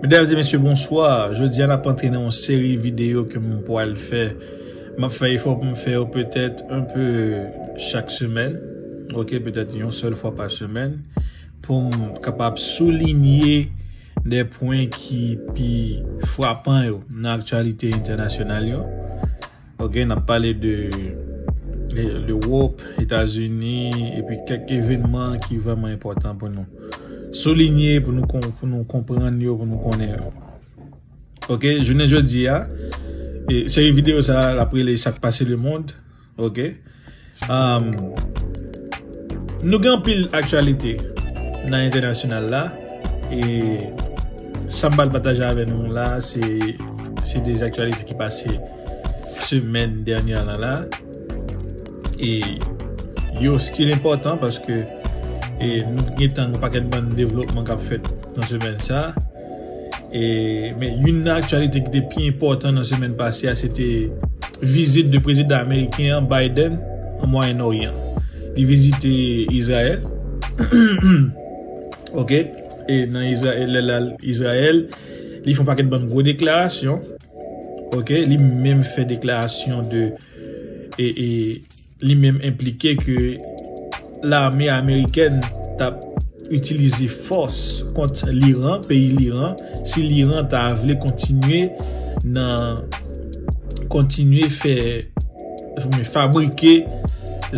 Mesdames et messieurs bonsoir, jodi a nap antre nan yon seri video ke m pwal fè, map fè efò pou m fè yo petèt un peu chak semèn ok petèt yon sèl fwa pa semèn pou m kapab soulinye de pwen ki pi fwapan yo nan aktyalite entènasyonal yo. Ok nap pale de L'Europe, Etats-Unis epi kèk evenman ki vreman enpòtan pou nou soulinye pou nou konprann yo pou nou konnen yo. Ok jounen jodi a seri video sa lap rele sak pase le mond ok. Nou gen anpil aktyalite nan entènasyonal la e sa m pral pataje avè nou la se de aktyalite ki pase semèn dènyè la la e yo stil enpòtan paske nou gen tan nou pakèt bann devlopman k ap fèt nan semèn sa. Men youn nan aktyalite ki te pi enpòtan nan semèn pase a se te vizit de prezidan ameriken an Biden an Mwayen Oryan. Li vizite Izrayèl. Ok, e nan Izrayèl lè lal Izrayèl, li fon pakèt bann gwo deklarasyon. Ok, li menm fè deklarasyon de e e Li menm enplike ke lame amerikèn t ap itilize fòs kont Liran, peyi Liran, si Liran ta vle kontinye nan kontinye fè fabrike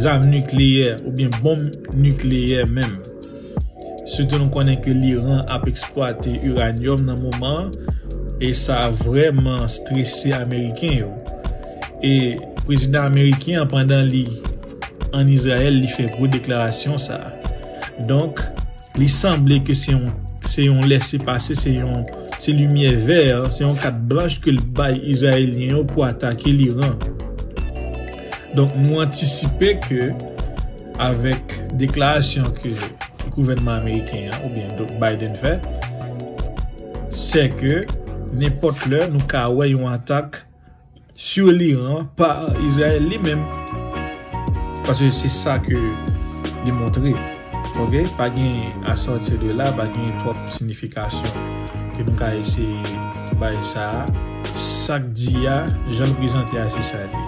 zam nikleyè oubyen bonm nikleyè menm. Sitou nou konnen ke l'Iran ap eksplwate uranium nan moman an e sa vrèman strese ameriken yo. E prezidan ameriken an pandan li an Izrayèl li fè gwo deklarasyon sa. Donk li sanble ke se yon se yon lese pase se yon se limyè vè se yon kat blanch ke l bay Izrayelyen yo pou atake l'Iran. Donk nou antisipe ke Avèk deklarasyon ke gouvènman ameriken an oubyen Biden fè, sè ke nenpòt lè nou ka wè yon atak su Iran pa Izrayèl li menm. Paske se sa ke li montre. Ok, pa gen a sòti de la, pa gen twòp sinifikasyon ke nou ka eseye bay sa a. Sa k di a, jan l prezante a se sa l ye.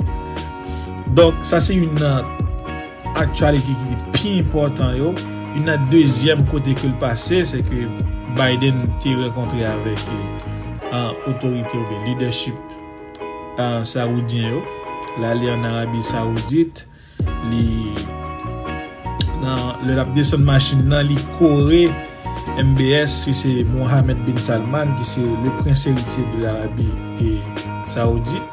Donk, sa se youn nan aktyalite ki te pi enpòtan yo. Youn nan dezyèm kote ke l pase, se ke Biden te rankontre avèk otorite oubyen lidèchip sawoudyen yo. L ale an Arabi Sawoudit, li nan, lè l ap desann machin nan, li kore MBS ki se Mohammed bin Salman ki se le prens eritye de Arabi Sawoudit.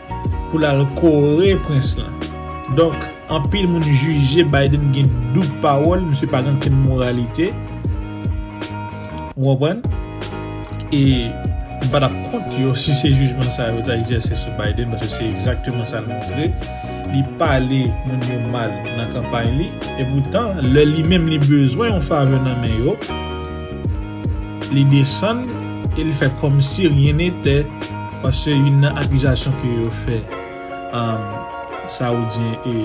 pou lal kore prens lan donk anpil moun jije Biden gen doub pawòl misye pa gen okenn moralite ou konprann e m pa tap kont yo si se jijman sa yo ta egzèse sou Biden paske se egzakteman sa l montre li pale moun yo mal nan kanpay li epoutan lè li menm li bezwen yon favè nan men yo. Li desann e li fè kòmsi ryen netè paske youn nan akizasyon ke yo fè Saoudyen e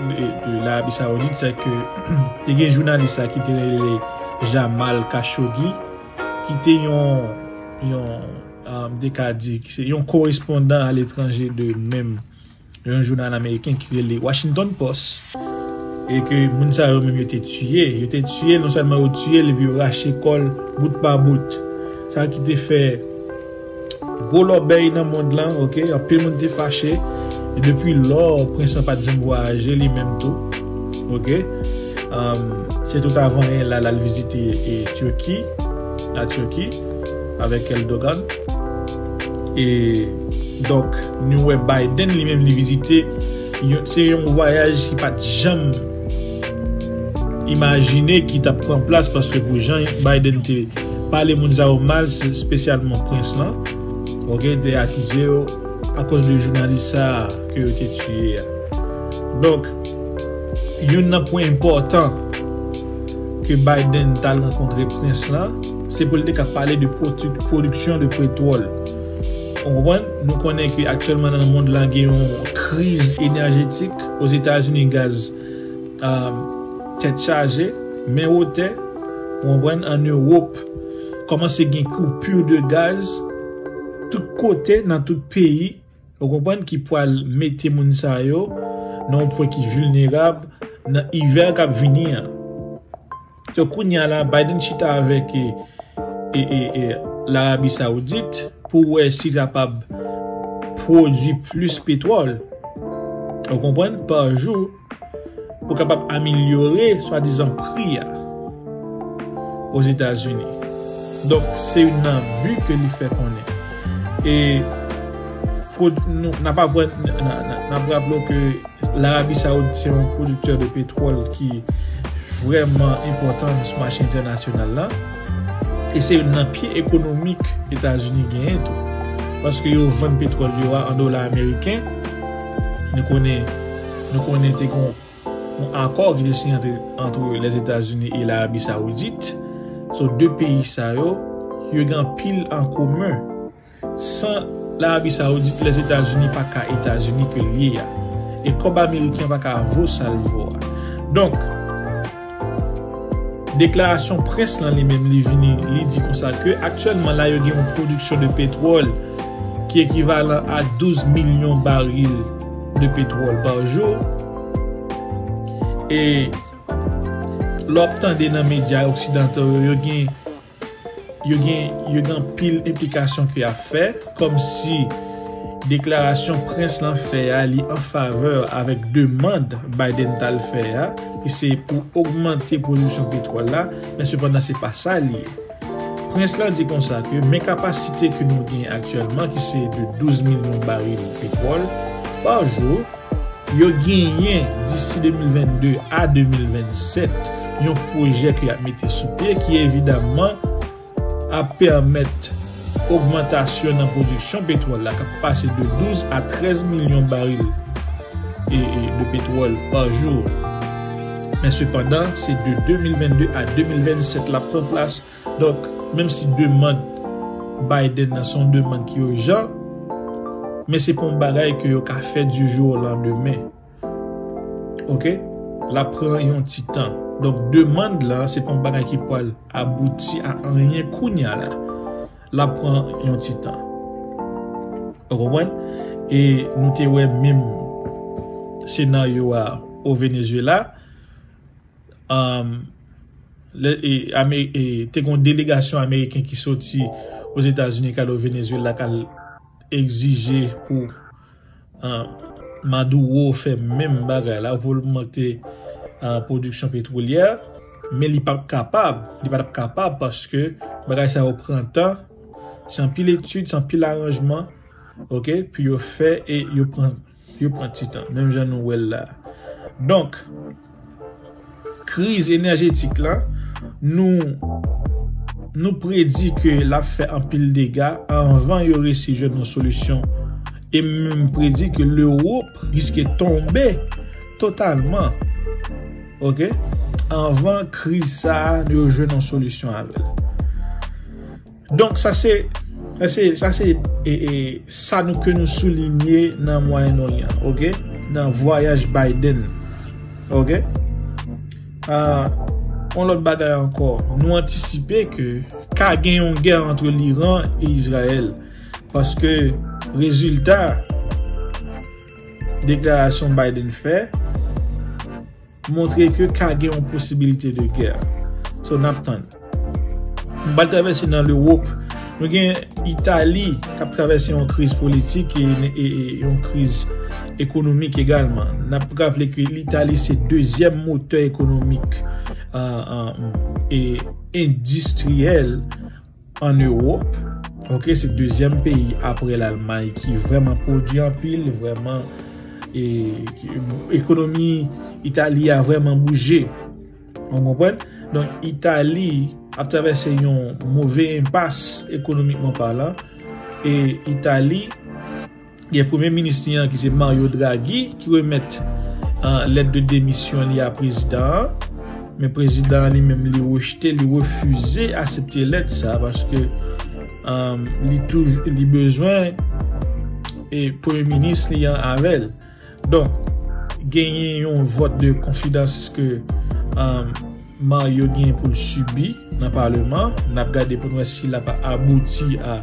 de Larabi Saoudit se ke te gen jounalis la ki te rele Jamal Khashoggi ki te yon, de ka di, yon korespondan aletranje de menm. yon jounal ameriken ki rele Washington Post e ke moun sa yo menm yo te tiye, yo te tiye, non sèlman yo tiye l epi yo rache kò l bout pa bout. Sa ki te fè gwo lòbèy nan mond lan, ok, anpil moun te fache e depi lò prens lan pa t janm vwayaje li menm tou, ok. Se tout avan yè la l al vizite Turquie, la Turquie, avèk Eldogan. E donk nou wè Biden li menm li vizite, se yon vwayaj ki pat janm imajine ki tap pran plas paske pou jan Biden te pale moun sa yo mal, spesyalman prens lan, ok, te akize yo akoz de jounalis sa a ke yo te tiye a. Donk, youn nan pwen enpòtan ke Biden tal rankontre prens lan, Se pou l te ka pale de pwodiksyon de petwòl. Ou konprann? Nou konnen ke aktyèlman nan mond la gen yon kriz enèjetik. Ozetazini gaz tèt chaje, men wotè. Ou konprann? An Ewop, kòmanse gen koupur de gaz tout kote, nan tout peyi. Ou konprann ki pwal mete moun sa yo nan yon pwen ki vilnerab nan ivè kap vini an. So kounya la Biden chita avèk Larabi Saoudit pou wè si kapab pwodwi plis petwòl ou konprann pa jou. Pou kapab amelyore swadizan pri a Ozetazini. Donk se youn nan bi ke li fè konnen. E nou nap raple w ke Larabi Sawoudit se yon pwodiktè de petwòl ki vrèman enpòtan sou mache entènasyonal la. E se youn nan pye ekonomik Etazini genyen tou. Paske yo vann petwòl yo a an dola ameriken. Nou konnen. Nou konnen te gen yon akò ki te siyen antre Lèzetazini e Larabi Sawoudit. So 2 peyi sa yo, yo gen anpil an komen. San Larabi Sawoudit, Lèzetazini pa ka Etazini ke l ye a. E kòb ameriken pa ka vo sa l vo a. Donk. Deklarasyon près lan li menm li vini li di konsa ke aktyèlman la yo gen yon pwodiksyon de petwòl ki ekivalan a 12 milyon baril de petwòl pa jou e lè w ap tande nan medya oksidantal yo yo gen Yo gen yo gen anpil enplikasyon ke yap fè kòmsi deklarasyon prens lan fè a li an favè avèk demand Biden tal fè a ki se pou ogmante pwodiksyon petwòl la men sepandan se pa sa li ye. Prens lan di konsa ke men kapasite ke nou gen aktyèlman ki se de 12 milyon baril petwòl pa jou Yo genyen disi 2022 a 2027 yon pwojè ke yap mete sou pye ki evidamman ap pèmèt ogmantasyon nan pwodiksyon petwòl la kap pase de 12 a 13 milyon baril de petwòl pa jou. Men sepandan se de 2022 a 2027 lap pran plas Donk, menm si demand Biden nan se yon demand ki urjan, men se pa yon bagay ke yo ka fè du jour au lendemain. Ok? L ap pran yon ti tan. Donk, demand la se pa yon bagay ki pwal abouti a anyen kounya la. L ap pran yon ti tan. Ou konprann? E nou te wè menm senaryo a au Venezuela. te gon delegasyon ameriken ki soti ozetazini kal o Venezuela kal egzije pou Maduro fè menm bagay la pou lmante pwodiksyon petwolyè men li pap kapab li patap kapab paske bagay sa yo pran tan san pil etid san pil aranjman ok pou yo fè e yo pran Yo pran ti tan, menm jan nou wè l la a. Donk, kriz enèjetik la, nou nou predi ke l ap fè anpil dega anvan yo resi jwenn yon solisyon e m menm predi ke Lewop riske tonbe totalman ok anvan kriz sa a yo jwenn yon solisyon avè l. Donk sa se sa se sa nou ke nou soulinye nan Moyen Oryan ok nan vwayaj Biden ok yon lòt bagay ankò nou antisipe ke ka gen yon gè antre l'Iran e Izrayèl paske rezilta deklarasyon Biden fè. Montre ke ka gen yon posibilite de gè. So nap tann. M pral travèse nan Lewop. Nou gen Itali kap travèse yon kriz politik e yon kriz ekonomik egalman. Nap raple ke Itali se dezyèm motè ekonomik e endistriyèl An Ewop, ok, se dezyèm peyi apre Lalmay ki vrèman pwodwi anpil, vrèman, e, ekonomi Itali a vrèman bouje. Ou konprann? Donk, Itali ap travèse yon move enpas ekonomikman palan, e Itali. Gen premye minis li an ki se Mario Draghi ki remèt lèt de demisyon li a prezidan an. Men prezidan an li menm li rejte, li refize asepte lèt sa paske li bezwen premye minis li an avè l. Donk genyen yon vòt de konfidans ke Mario genyen pou l sibi nan paleman. N ap gade pou n wè si l ap abouti a.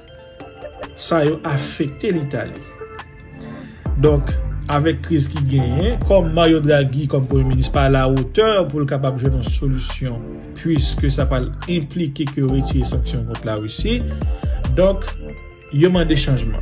sa yo afekte Litali. Donk, avèk kriz ki genyen, kòm Mario Draghi kòm premye minis pa alawotè pou l kapab jwenn yon solisyon puiske sa pral enplike ke yo retire sanksyon kont Larisi, donk yo mande chanjman.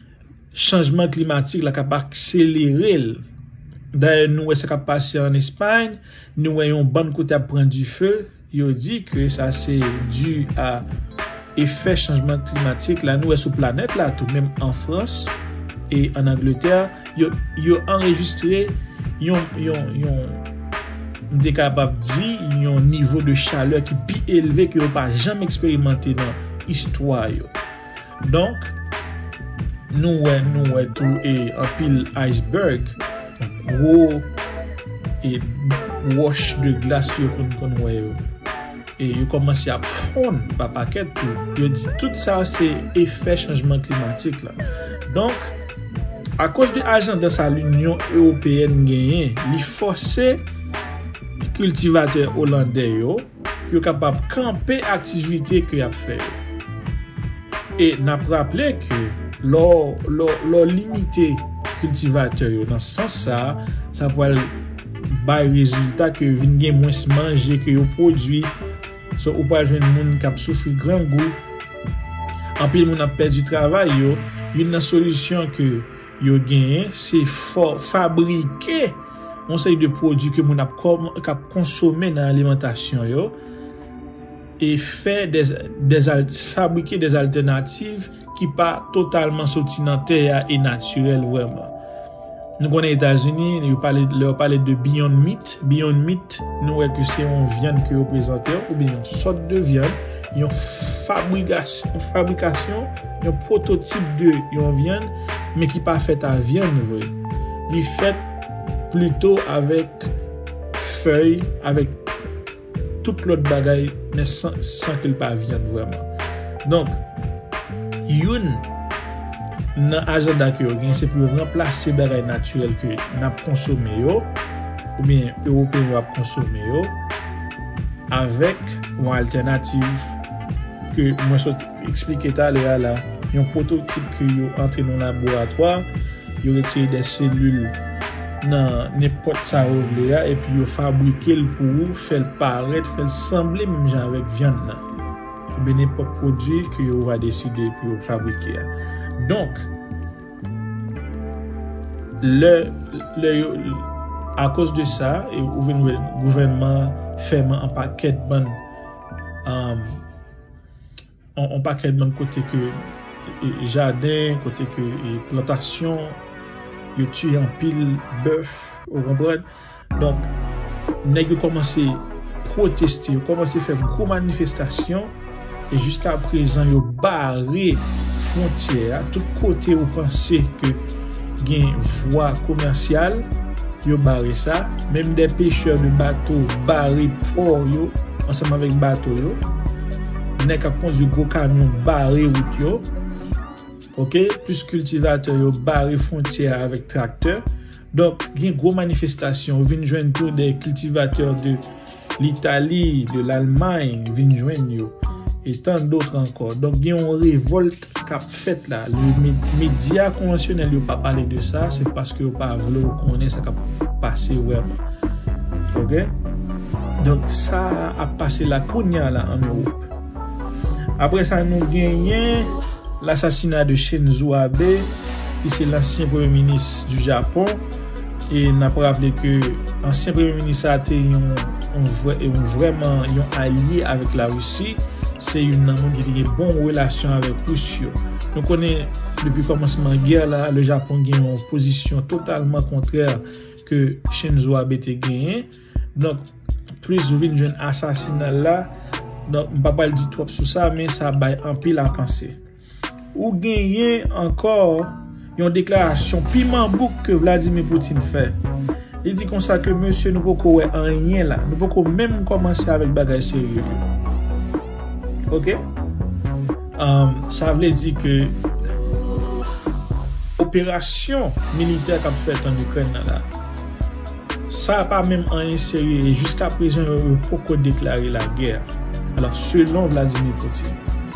chanjman klimatik la k ap akselere l. Dayè nou wè sa k ap pase an Espayn, nou wè yon bann kote ap pran dife, yo di ke sa se di a efè chanjman klimatik la, nou wè sou planèt la tou, menm an Frans e an Angletè, yo anrejistre yon, m te kapab di, yon nivo de chalè ki pi elve ke yo pa janm eksperimante nan istwa yo. Donk, nou wè nou wè tou e anpil iceberg, gwo e wòch de glas yo konn konn wè yo. E yo kòmanse ap fonn pa pakèt tou. Yo di tout sa se efè chanjman klimatik la. Donk, akoz de ajanda sa linyon ewopeyèn genyen, li fòse kiltivatè olandè yo, pou yo kapab kanpe aktivite ke yap fè yo. E nap raple ke lè w limite kiltivatè yo nan sans sa, sa pwal bay rezilta ke vin gen mwens manje ke yo pwodwi, so ou pwal jwenn moun kap soufri grangou, anpil moun ap pèdi travay yo, youn nan solisyon ke. yo genyen se fabrike yon seri de pwodui ke moun ap konsome nan alimantasyon yo e fè fabrike des altènativ ki pa totalman soti nan tè a e natirèl vrèman nou konnen etazini lè yo pale de beyond meat Beyond Meat, nou wè ke se yon vyann ke yo prezante ou byen yon sòt de vyann, yon fabrikasyon, yon pwototip de yon vyann, men ki pa fèt a vyann vre. Li fèt plito avèk fèy, avèk. tout lòt bagay men san ke l pa vyann vrèman. Donk, youn nan ajanda ke yo gen se pou yo ranplase bagay natirèl ke n ap konsome yo oubyen Ewopeyen yo ap konsome yo avèk yon altènativ ke mwen sot eksplike talè a la, yon pwototip ke yo antre nan laboratwa, yo retire de selil nan nenpòt sa yo vle a, epi yo fabrike l pou ou, fè l parèt, fè l sanble menm jan avèk vyann nan, oubyen nenpòt pwodui ke yo va deside pou yo fabrike a. Donk, lè, lè yo, akoz de sa, e ou vin wè gouvènman an fèman anpakèt bann, On pakèt bann kote ke jaden, kote ke plantasyon, yo tiye anpil bèf, ou konprann. Donk, nèg yo kòmanse pwoteste, yo kòmanse fè gwo manifestasyon, e jiska prezan yo bare fwontyè a, tout kote ou panse ke. gen vwa komèsyal yo bare sa, menm de pechè de bato bare pò yo ansanm avèk bato yo, nèg kap kondwi gwo kamyon bare wout yo, ok, plis kiltivatè yo bare fwontyè a avèk traktè, donk gen gwo manifestasyon, ou vin jwenn tou de kiltivatè de. Litali, de Lalmay vin jwenn yo, e tan dotr ankò. Donk gen yon revòlt k ap fèt la. Le medya konvansyonèl yo pa pale de sa, se paske yo pa vle w konnen sa k ap pase vrèman. Ok? Donk sa ap pase la kounye a la an Ewop. Apre sa nou genyen lasasina de Shinzo Abe ki se lansyen premye minis di Japon. E nap raple ke ansyen premye minis sa te yon vreman yon alye avèk la Russie, se youn nan moun ki te gen bon relasyon avèk Rus yo. Nou konnen depi kòmansman gè la, le Japon gen yon pozisyon totalman kontrè ke Shinzo Abe te genyen. Donk, plis ou vin jwenn asasinal la, donk m pa pral di twòp sou sa men sa bay anpil a panse. Ou genyen ankò yon deklarasyon piman bouk ke Vladimir Putin fè. Li di konsa ke mesye nou poko wè anyen la, nou poko menm kòmanse avèk bagay serye yo. Ok? Sa vle di ke operasyon militè kap fèt an Ikrèn nan la, sa pa menm anyen serye e jiskaprezan yo poko deklare lagè. Alò, selon Vladimir Putin.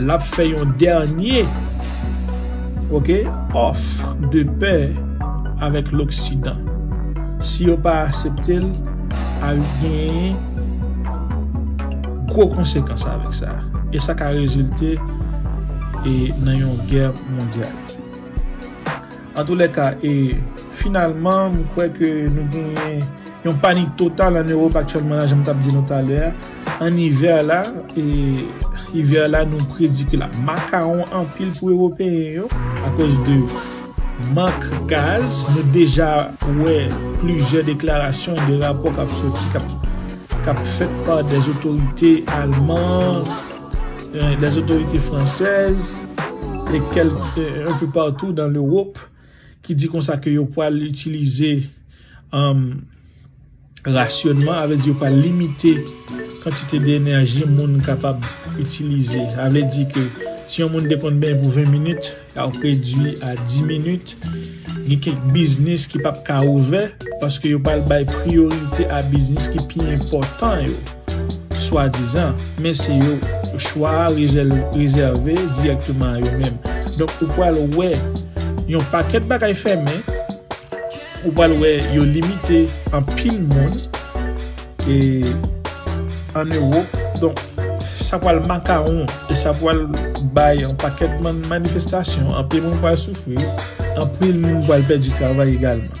Lap fè yon dènye ok offre de paix avèk loksidan. Si yo pa asepte l ap genyen gwo konsekans avèk sa e sa ka rezilte e nan yon gè mondyal. Antoulèka e finalman m kwè ke nou genyen Yon panik total an Ewop aktyèlman la janm tap di nou talè a an ivè la e ivè la nou predi ke lap makawon anpil pou ewopeyen yo akoz de mank gaz nou deja wè plizyè deklarasyon e de rapò kap soti kap fèt pa dè otorite alman dè otorite fransèz e kèlk un peu partout dans l'Europe. ki di konsa ke yo pwal itilize rasyonman, avè di yo pwal limite kantite de enèji moun kapab itilize. Avè di ke si yon moun de konn benyen pou 20 minit, ya w redwi a 10 minit. Ni kek biznis ki pap ka ouvè, paske yo pwal bay priyorite a biznis ki pi enpotan yo. swadizan, men se yo chwa a rezève dirèkteman a yo menm. Donk ou pral wè yon pakèt bagay fèmen, ou pral wè yo limite anpil moun e an Ewop, donk sa pral makawon e sa pral bay yon pakèt manifestasyon, anpil moun pral soufri, anpil moun pral pèdi travay egalman.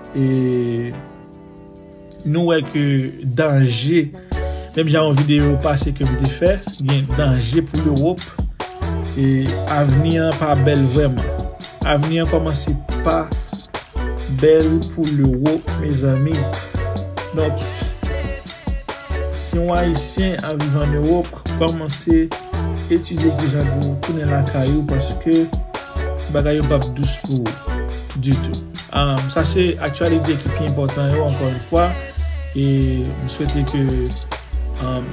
E nou wè ke danje, menm jan yon videyo pase ke m te fè, gen danje pou Lewop, e avni an pa bèl vrèman. Avni an kòmanse pa bèl pou Lewop mezanmi. Donk, si yon Ayisyen ap viv an Ewop, kòmanse etidye ki jan pou tounen lakay ou paske bagay yo p ap dous pou ou ditou. Sa se aktyalite ki pi enpòtan yo ankò yon fwa e m swete ke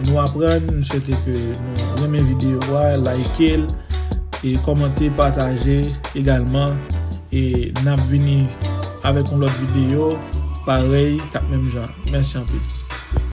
nou aprann, m swete ke nou renmen videyo a, layike l e kòmante, pataje egalman e n ap vini avèk yon lòt videyo parèy k ap menm jan. Mèsi anpil.